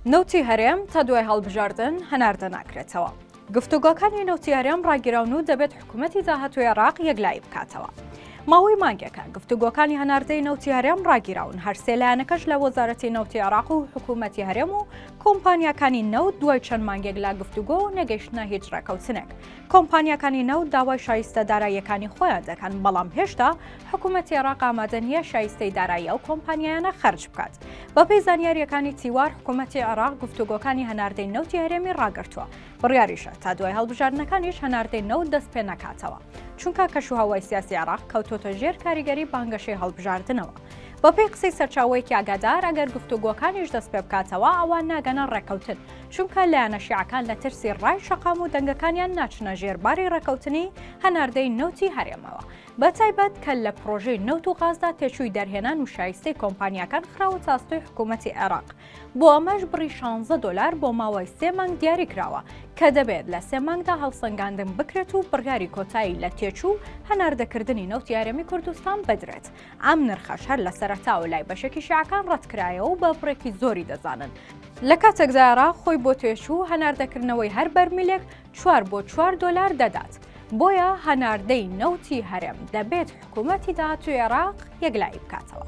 نەوتی هەرێم تا دوای هەڵبژاردن هەناردە ناکرێتەوە. گفتوگۆکانی نەوتی هەرێم ڕاگیراون و دەبێت حکوومەتی داهاتوی عێراق یەکلایی بکاتەوە. ماوەی مانگێکە گفتوگۆکانی هەناردەی نەوتی هەرێم ڕاگیراون هەر سێ لایەنەکەش لە وەزارەتی نەوتی عێراق و حکوومەتی هەرێم و کۆمپانیاکانی نەوت دوای چەند مانگێک لا گفتوگۆ نەگەیشتنە هیچ ڕێکەوتنێک کۆمپانیاکانی نەوت داوای شایستە داراییەکانی خۆیان دەکەن، بەڵام هێشتا حکومەتی عێراق ئامادە نییە شایستەی دارایی ئەو کۆمپانیایانە خەرج بکات. بەپێی زانیارییەکانی تیوار، حکومەتی عێراق گفتوگۆکانی هەناردەی نەوتی هەرێمی ڕاگرتووە، بڕیاریشە تا دوای هەڵبژاردنەکانیش هەناردەی نەوت دەستپێنەکاتەوە، چونکە کەشوهەوای سیاسی عێراق کەوتۆتە ژێر کاریگەری بانگەشەی هەڵبژاردنەوە. بەپێی قسەی سەرچاوەیەکی ئاگادار، ئەگەر گفتوگۆکانیش دەستپێبکاتەوە، ئەوا ناگەنە ڕێککەوتن، چونکە لایەنە شیعەکان لە ترسی ڕای شەقام و دەنگەکانیان ناچنە ژێر باری ڕێکەوتنی هەناردەی نەوتی هەرێمەوە، بەتایبەت کە لە پرۆژەی نەوت و غازدا تێچووی دەرهێنان و شایستەی کۆمپانیاکان خراوەتە ئەستۆی حکوومەتی عێراق، بۆ ئەمەش بڕی شانزە دۆلار بۆ ماوەی سێ مانگ دیاری کراوە، کە دەبێت لە سێ مانگدا هەڵسەنگاندن بکرێت و بڕیاری کۆتایی لە تێچوو و هەناردەکردنی نەوتی هەرێمی کوردستان بدرێت. ئەم نرخەش هەر لە سەرەتاوە لای بەشێکی شیعەکان ڕەتکرایەوە و بە بڕێکی زۆری دەزانن. لە کاتێکدا عێراق خۆی بۆ تێچوو هەناردەکردنەوەی هەر بەرمیلێک چوار بۆ چوار دۆلار دەدات. بۆیە هەناردەی نەوتی هەرێم دەبێت حکوومەتی داهاتووی عێراق یەکلایی بکاتەوە.